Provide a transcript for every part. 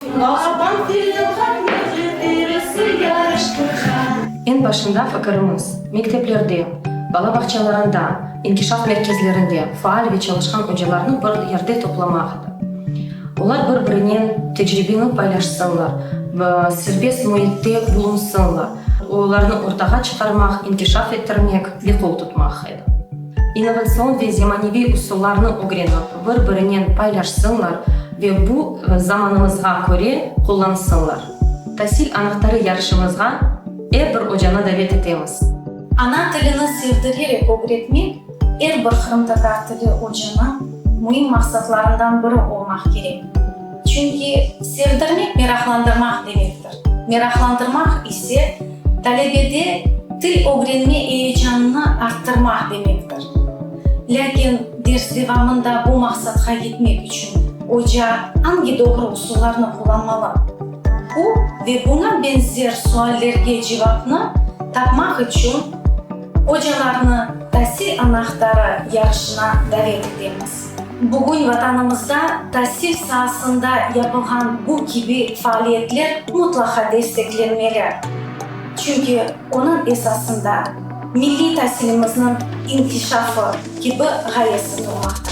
Bağaban tilda nefret birisi yarıştırğa. Eñ başında fikirimiz, mekteplerde, bala bağçalarında, inkişaf merkezlerinde faal ve çalışqan ocalarnı bir yerde toplamaq edi. Olar bir-birinen tecribeni paylaşsınlar, serbest müitte bulunsınlar, olarnı ortağa çıqarmaq, inkişaf ettirmek ve qol tutmaq edi. innovatsion ve zemaneviy usullarnı ögrenip, bir-birinen paylaşsınlar ve bu zamanımızğa köre qullansınlar. Tasil anahtarı yarışımızğa er bir ocanı davet etemiz. Ana tilini sevdirerek ögretmek er bir qırımtatar tili ocanıñ müim maqsatlarından biri olmaq kerek. Çünki sevdirmek meraqlandırmaq demek. Meraqlandırmaq ise, talebede til ögrenme eyecanını arttırmaq demektir. Lâkin ders devamında bu maqsadqa yetmek içün oca angi doğru usullarnı qullanmalı? Bu ve buña benzer suallerge cevapnı tapmaq içün ocalarnı Tasil anahtarı yarışına davet etemiz. Bugün Vatanımızda tasil saasında yapılğan bu kibi faaliyetler mutlaqa desteklenmeli. Çünki onıñ esasında milliy tasilimizniñ inkişafı kibi ğayesi turmaqta.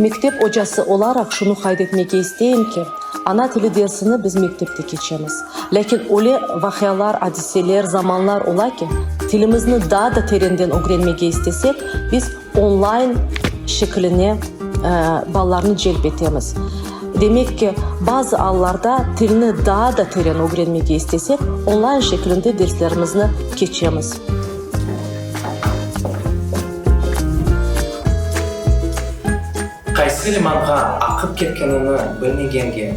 Mektep ocası olaraq şunı qayd etmege isteyim ki, ana tili dersini biz mektepte keçemiz, lâkin öyle vaqialar, adiseler, zamanlar ola ki, tilimizni daa da terenden ögrenmege istesek, biz, Online şekiline balalarnı celp etemiz. Demek ki, bazı allarda tilni daa da teren ögrenmege istesek, online şekilinde derslerimizni keçemiz. Qaysı limanğa aqıp ketkenini bilmegenge.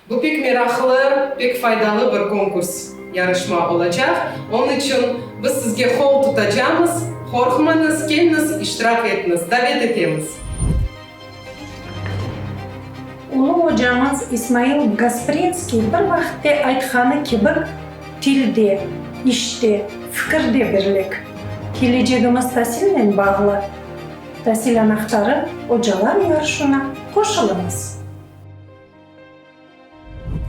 Bu pek meraqlı, pek faydalı bir konkurs, yarışma olacaq, onıñ içün biz sizge qol tutacamız, qorqmañız, kelñiz, iştirak etñiz, davet etemiz! Ulu ocamız İsmail Gasprinskiy bir vaqıtte aytqanı kibik, tilde, işte, fikirde birlik. Kelecegimiz tasilnen bağlı. Tasil anahtarı ocalar yarışına qoşılıñız!